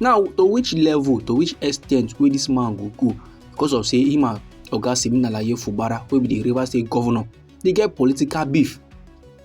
now to which level to which extent wey dis man go go because of say him and oga siminalaye fubara wey be di rivers state governor dey get political beef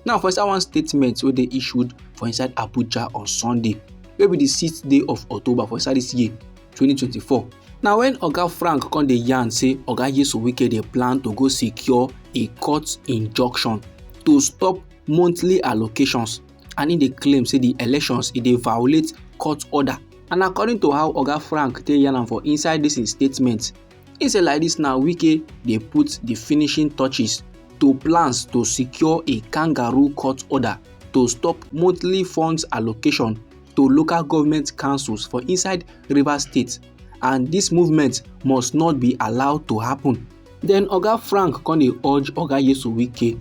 now for inside one statement wey dey issued for inside abuja on sunday wey be di sixth day of october for inside dis year 2024 na wen oga frank come dey yarn say oga yesu wike dey plan to go secure a court injunction to stop monthly allocations and im dey claim say di elections e dey violate court order and according to how oga frank take yarn am for inside dis im statement im say like dis now wike dey put di finishing touches to plans to secure a kangaroo court order to stop monthly funds allocation to local government councils for inside rivers state and dis movement must not be allowed to happen den oga frank come dey urge oga yesu wike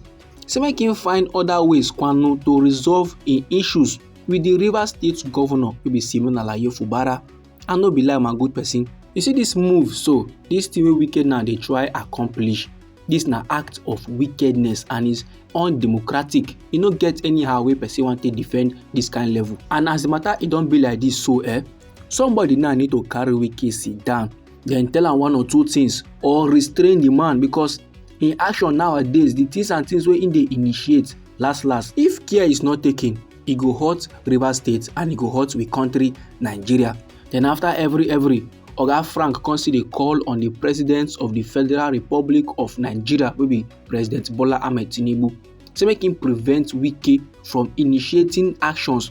say make im find oda ways kwanu to resolve im issues wit di rivers state govnor wey be simon alaye fubara and no be lie my good pesin you see dis move so dis tin wey wike now dey try accomplish dis na act of wickedness and is undemocratic e no get anyhow wey pesin wan take defend dis kain level and as di matter e don be like dis so eh somebody now need to carry wike sit down then tell am one or two things or restrain the man because Im action nowadays, di things and things wey im dey initiate, last last, if care is not taken, e go hurt Rivers State and e go hurt we country Nigeria. Then after every every, Oga Frank come still dey call on the President of the Federal Republic of Nigeria wey be President Bola Ahmed Tinubu say make im prevent Wike from initiating actions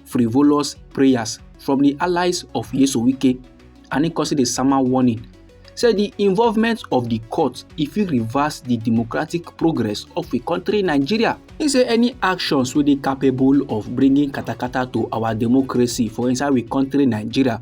frivolous prayers from di allies of Nyesom Wike and im consider di sama warning say di involvement of di court e fit reverse di democratic progress of a country nigeria He say any actions wey dey capable of bringing katakata to our democracy for inside we country nigeria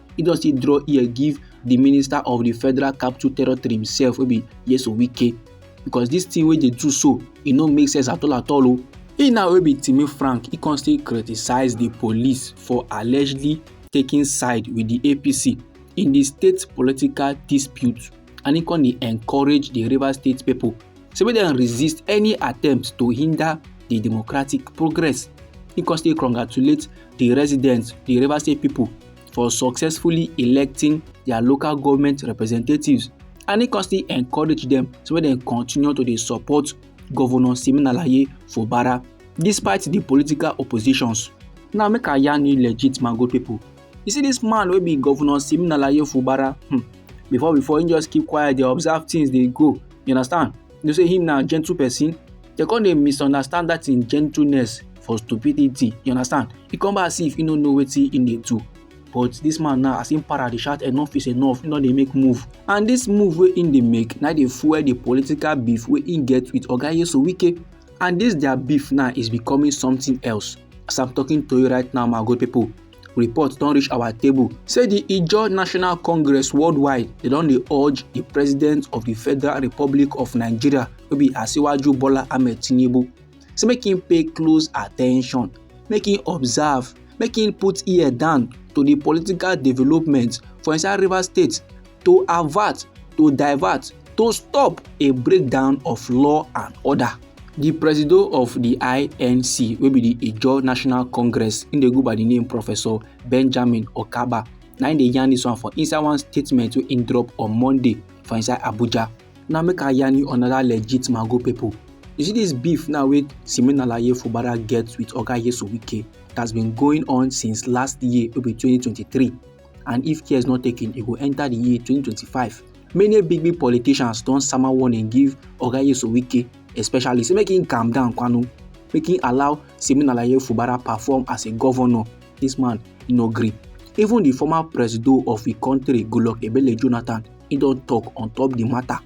e don still draw ear give di minister of di federal capital territory himself wey be yeso wike because dis thing wey dey do so e no make sense at all at all o. He now wey be Timi Frank he come still criticise di police for allegedly taking side with di APC in di state political dispute and he come dey encourage di Rivers state pipo say make dem resist any attempt to hinder di democratic progress. He come still congratulate di residents di Rivers state pipo for successfully electing their local government representatives and he constantly encourage them so make dem continue to dey support governor siminalaye fubara despite the political oppositions now make i yarn you legit my good people you see this man wey be governor siminalaye fubara hmm, before before he just keep quiet dey observe things dey go you understand you know say him na gentle person dem come dey misunderstand that him gentleness for stupidity you understand e come back as if e no know wetin e dey do but this man now as him para dey shout enough is enough he no dey make move and this move wey him dey make na dey fuel the political beef wey him get with oga yeso wike and this their beef now is becoming something else as i'm talking to you right now my good people report don reach our table say di ijaw national congress worldwide dey don dey urge di president of di federal republic of nigeria wey be asiwaju bola ahmed tinubu say make im pay close attention make im observe make im put ear down to di political development for inside rivers state to avert, to divert, to stop a breakdown of law and order. The presido of the INC wey be the Ijaw National Congress im dey go by the name Professor Benjamin Okaba na im dey yarn this one for inside one statement wey im drop on Monday for inside Abuja. Now make I yarn you another legit mago people. You see this beef now wey Siminalayi Fubara get with Oga Yesu Wike that has been going on since last year wey be 2023. and if care is not taken e go enter the year 2025 many big big politicians don sama warning give oga yesu wike especially say make him calm down kwanu make him allow simon alaye fubara perform as a governor this man no gree even the former presido of the country goodluck ebele jonathan he don talk on top the matter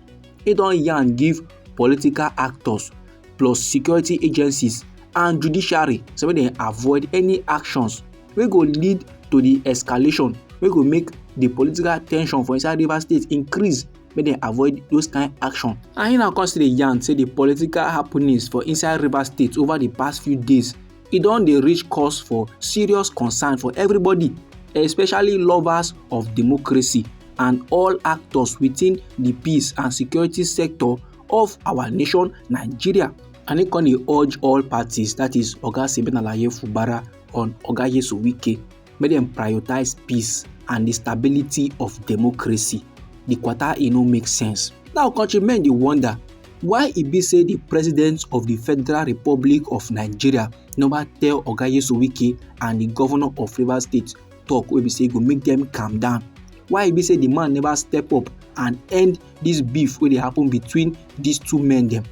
he don yarn give political actors plus security agencies and judiciary so make dem avoid any actions wey go lead to di escalation wey go make di political tension for inside rivers state increase make dem avoid those kind action. and im na come still dey yarn say di political happenings for inside rivers state over di past few days e don dey reach cause for serious concern for everybody especially lovers of democracy and all actors within di peace and security sector of our nation nigeria and im come dey urge all parties that is oga simeon alaye fubara on Oga Yesu Wike make dem prioritize peace and the stability of democracy. The quarter e no make sense. Now countrymen dey wonder why e be say the president of the Federal Republic of Nigeria never tell Oga Yesu Wike and the governor of Rivers State talk wey be say e go make dem calm down. Why e be say the man never step up and end this beef wey dey happen between these two men dem.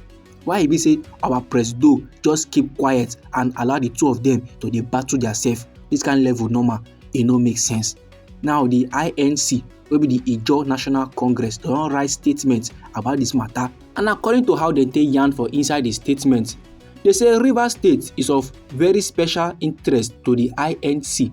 why e be say our presido just keep quiet and allow the two of them to dey battle theirself this kind level normal e no make sense now the inc wey be the ijaw national congress don write statement about this matter and according to how dem take yarn for inside the statement they say rivers state is of very special interest to the inc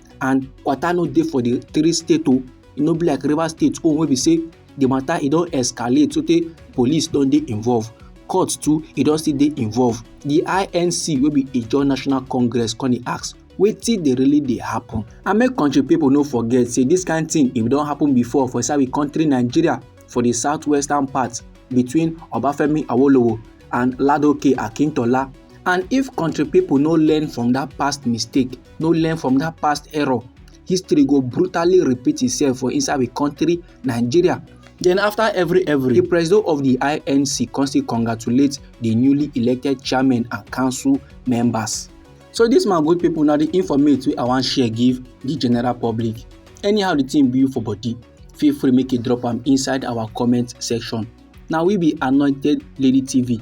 and kwata no dey for di three state o e no be like rivers state own wey be say di matter e don escalate so tey police don dey involved court too e don still dey involved di inc wey be ijaw national congress come dey ask wetin dey really dey happen and make country people no forget say this kind thing e don happen before for inside we country nigeria for the southwestern part between obafemi awolowo and ladoke akintola and if country people no learn from that past mistake no learn from that past error history go brutally repeat itself for inside the country nigeria Then after every every, the president of the INC constantly congratulates the newly elected chairman and council members. So this my good people now the informate wey I wan share give the general public. Anyhow the thing be for body, feel free make you drop am inside our comment section. Now we be Anointed Lady TV